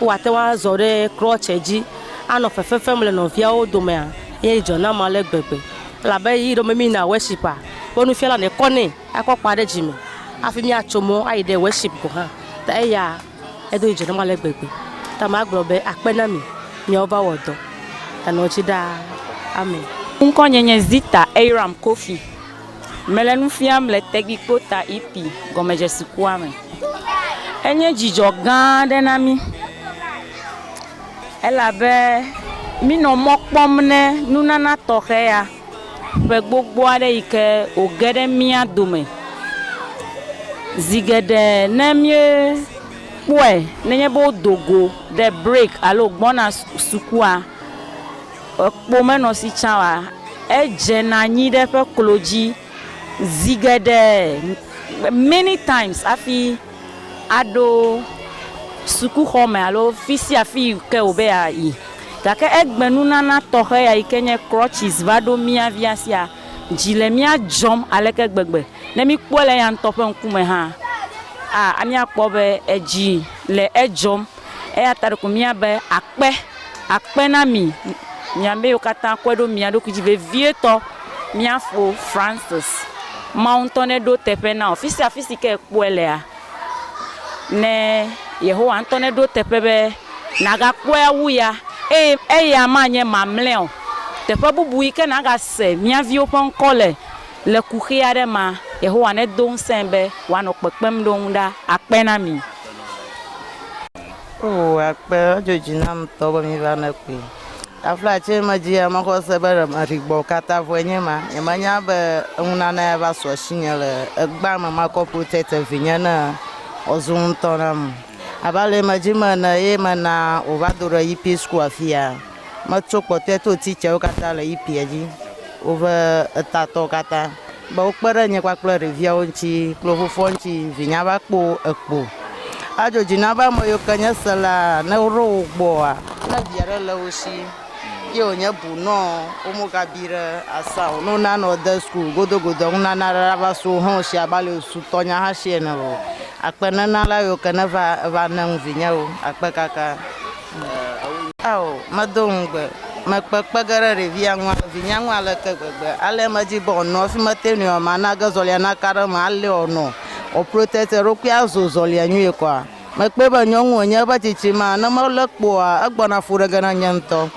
Woate ŋu azɔ ɖe krɔtse dzi anɔ fefe fem le nɔviawo domea? Ye dzɔ nam ale gbegbe, elabe ɣeyiɣi ɖewo me míyina wɛshipa be nufiala nekɔ nɛ akɔ kpa ɖe dzi me hafi míatso mɔ ayi ɖe wɛship gɔ̃ hã. Ta eya edo dzi dzɔ nam ale gbegbe. Ta magblɔ be, Akpe na mi, miawo va wɔ dɔ. Nanɔ edzi ɖaa. Amen. Ŋkɔnye nye Zita Eyram Kofi. Mele nu fiam le Tegbikpo ta EP gɔmedzesi kua me. Enye dzidzɔ gã aɖe na mí elabe mínɔ mɔ kpɔm ne nunana tɔxɛ ya ƒe gbogbo aɖe yi ke wòge ɖe mía dome. Zi geɖe ne míekpɔe nenye be wodo go ɖe break alo gbɔna sukua, ekpo menɔ si tsã oa, edze na anyi ɖe eƒe klo dzi zi geɖe, many times hafi aɖo sukuxɔme alo fi sia fi yi ke wòbe yeayi. Gake egbe nunana tɔxɛ ya yi ke nye crutches va ɖo mía via sia. Dzi le mía dzɔm aleke gbegbe. Ne míkpɔe le eya ŋutɔ ƒe ŋkume hã, ah, míakpɔ be edzi le edzɔm. Eya ta ɖeko mía be akpe, akpe na mi, mi ame yiwo katã kɔe ɖo mia ɖokui dzi vevietɔ. Mía fo Francis. Mawu ŋutɔ ne ɖo teƒe na wò fisia fisi ke ekpɔe lea. Ne Yehowa ŋutɔ ne ɖo teƒe be naga kpɔe awu ya eye eya ma nye mamlɛ o. Teƒe bubu yike naga se mía viwo ƒe ŋkɔ le. Le kuxi aɖe mea, Yehowa nedo ŋusẽm be wòanɔ kpekpem ɖe wo ŋu ɖa akpe na mi. Oo, akpe! Edzɔ dzi nam ŋutɔ be míva ne kpli. Afla tsɛ medzi ya mexɔse be ɖe maɖi gbɔ o. Ka ta avɔe nye ma? Nyemenya be enu nane ava su asinye le egbea me makɔ protect vinye ne wòazu ŋutɔ nam o. Abe ale medzi me ene ye mena wòva do ɖe Yippee School afia. Metso kpɔtɔe to tsitsɛwo katã le Yippiɛ dzi woƒe etatɔwo katã be wokpe ɖe nye kpakple ɖeviawo ŋutsi kple fofoa ŋutsi vinye ava kpɔ wo ekpo. Adzɔ dzi nam be ame yiwo ke nye selaa ne woɖo wo gbɔa, ne vi aɖe le wo shi ye wònye bu nɔ womogabi ɖe asã o ne wona ne wode sukuu godogodoa, nunana aɖe ava so wo hã wo shi abe ale wòsu tɔnya hã shi ene o. Akpe nena la yiwo ke neva eva neŋ vinyewo. Akpe kaka. Ao, medo ŋugbe. Mekpe kpe ge ɖe ɖevia ŋu, vinyea ŋu aleke gbegbe. Ale medi be wòanɔ hafi mate ŋui o. Mana ge zɔlia naka ɖe eme ale wòanɔ wòprotɛkti eɖokui azu zɔlia nyuie kɔa? Mekpɔe be nyɔnu wònye. Eƒe tsitsi ma, ne melé kpo oa, egbɔna fu ɖe ge na nye ŋutɔ.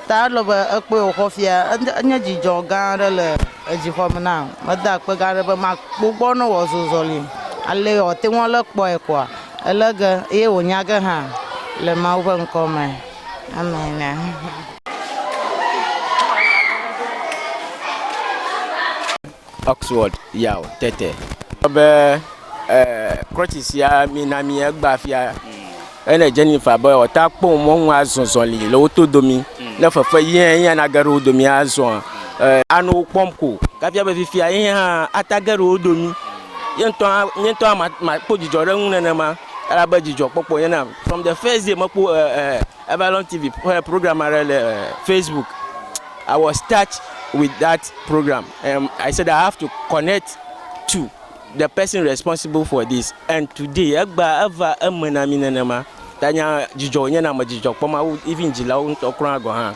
Ta ele be ekpɔe wòxɔ fia. Enye dzidzɔ gã aɖe le edzi xɔm nam. Meda akpe gã aɖe be makpɔ gbɔ ne wòazu zɔli ale wòate ŋu alé kpoae kɔa? Ele ge, eye wònya ge hã le Mawu ƒe ŋkɔ me. Amene. Oxford Yao Tete gblɔ be, Krɔtsi sia mina mí egbea fia ene Jennifer be wòate ŋu akpɔ mɔ ŋu azɔ zɔli le wo to domi. Ne fefe yea yea nage ɖe wo domi azɔa, anɔ wo kpɔm ko. Kafia be fifia yehã ate age ɖe wo domi. Nye ŋutɔ hã, nye ŋutɔ hã makpɔ dzidzɔ ɖe eŋu nenema elabe dzidzɔkpɔkpɔ nye nam. From the first day mekpɔ Evalon TV ƒe program aɖe le Facebook, I was touched with that program and I said I have to connect to the person responsible for this and today egba eva eme na mi nenema. Ta nya dzidzɔ wònye nam, medzidzɔ kpɔm wu even dzilawo ŋutɔ kura gɔ̃ hã.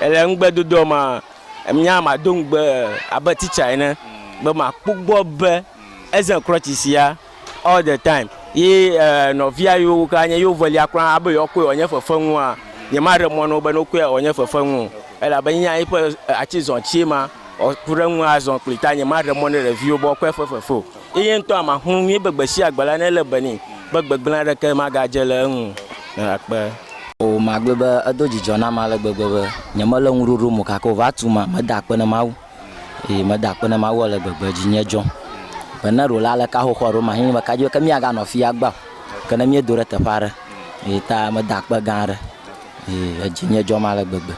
Le ŋugbedodoa mea, Nya mado ŋugbe abe titsa ene be makpɔ gbɔ be eze klɔtsi sia all the time ye nɔvia yiwo wokura nye yewo velia kura be yewoakɔe wòanye fefeŋua, nyemaɖe mɔ na wo be ne wokɔe wòanye fefeŋu o elabe nya eƒe atizɔti ye ma. Ku ɖe eŋu azɔ kplii ta nyemaɖe mɔ na ɖeviwo be woakɔe aƒe fefe o. eye ŋutɔ ama xlɔ̃ nu nyuie be gbe sia gbe la nelé be nɛ be gbegblẽ aɖeke magadze le eŋu o. O magblɔe be edo dzidzɔ nam ale gbegbe be nyemele ŋuɖoɖo mo gake wòva tum ma, meda akpe na Mawu. Eye meda akpe na Mawu ale gbegbe dzinye dzɔm be ne ɖo la aleka xoxoa ɖo mahiahiã meka dzi be ke míaganɔ afii agbã o ke ne míedo ɖe teƒe aɖe. Eyi ta meda akpe gã aɖe eye edzinye dzɔm ale gbegbe.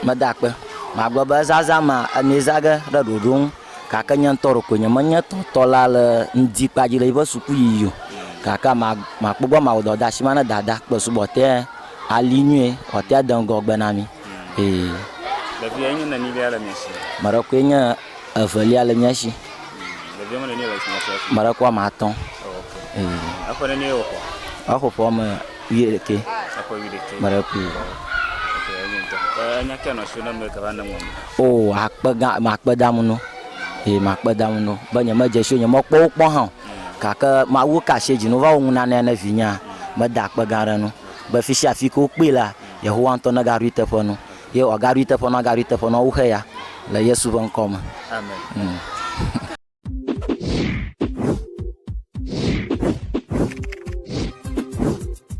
Meda akpe. Magblɔ be ezazã ma mezã ge ɖe ɖoɖo ŋu. Gake nye ŋutɔ ɖekoe nye menye etɔ̃tɔ la le ŋdi kpa dzi le yiƒe suku yiyi o. Gake ma, makpɔ egbɔ mawɔ dɔ de asi ma ne dada kple subɔ te ali nyuie, wòate ade ŋgɔgbe na mi. Ee. Ɖeviae nye nenilia le mia si? Meɖekoe nye evelia le mía si. Ɖevia me nenie le mia si hafi? Meɖekoe ame atɔ̃. Ok. Ee. Eƒe nenie wòxɔ? Exɔ ƒe ame wuiɖekɛ meɖe ku o akpe gã makpe dam no ye makpe dam no be nye medze si o nye mekpɔ wo kpɔ hã o gake mawu ka asi dzi no va wo ŋu nanea ne vinyea meda akpe gã aɖe no be fi sia fi ke wokpee la Yehowa ŋutɔ nega ɖoe teƒe no ye wòaga ɖoe teƒe na gaɖoe teƒe na wu xe ya le Yesu ƒe ŋkɔ me. Amen.